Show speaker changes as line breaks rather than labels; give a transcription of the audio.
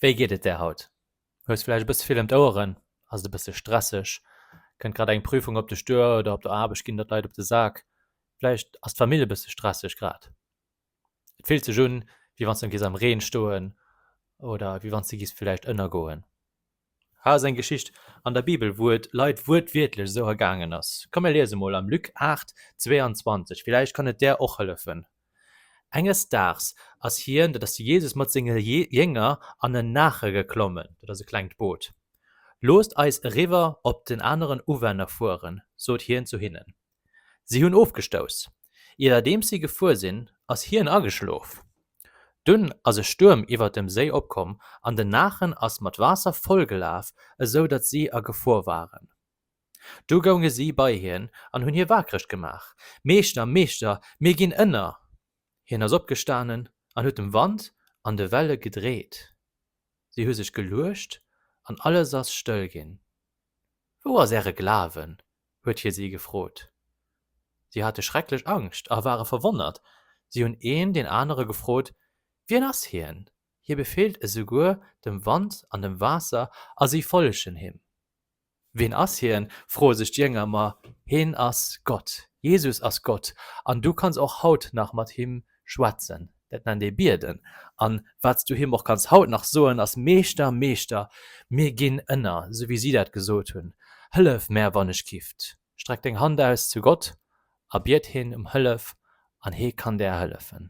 Wéi geet et der haut? Hues vläicht e bësse vill ëm d'Oueren? Ass et e bësse stresseg? Kënnt grad eng Prüfung op dech duer oder op der Aarbecht ginn der d'Leit op de Sak? Vläicht ass d'Famill e bësse stresseg grad? Et fillt sech un, wéi wann s de giss am Reen stoen oder wéi wann s de giss vläicht ënnergoen. Hei ass eng Geschicht an der Bibel, wou et Leit wuertwiertlech esou ergaangen ass. Komm mir liese mol am Luc 8, 22, villäicht kann et der och hëllefen. Enges Daags ass hien, dat ass de Jesus, mat senge Jénger an en Naache geklommen, dat ass e klengt Boot. Loosst eis eriwwer op den aneren Uwänner fueren, sot hien zu hinnen. Si hunn ofgestouss. Iwwerdeems si gefuer sinn, ass hien ageschlof. Dunn ass e Stuerm iwwer dem Séi opkomm an den Naachen ass mat Waasser vollgelaf, esou datt si a Gefor waren. Du gounge si bei hien an hunn hie waakreg gemaach, Meeschter, Meeschter, mir ginn ënner! Hien ass opgestanen an huet dem Wand an de Welle gedreet. Si hu sech geluecht an alles ass stëll ginn. Wou ass Äre Glawen? huet hie si gefrot. Si hate schrecklech Angscht a ware verwonnert. Si hunn een deen anere gefrot, Wien ass hien? Hie befeelt esouguer dem Wand an dem Waasser a si follegen him. Ween ass hien? froe sech d'Jénger, ma hien ass Gott. Jesus ass Gott an du kanns och haut nach mat him schwätzen. Dat nennt ee bieden. An wat s du him och kanns haut nach soen, ass, Meeschter, Meeschter, mir ginn ënner, sou wéi si dat gesot hunn. Hëllef mär wann ech kifft. Streck deng Hand aus zu Gott a biet hien ëm Hëllef an hie kann där hëllefen.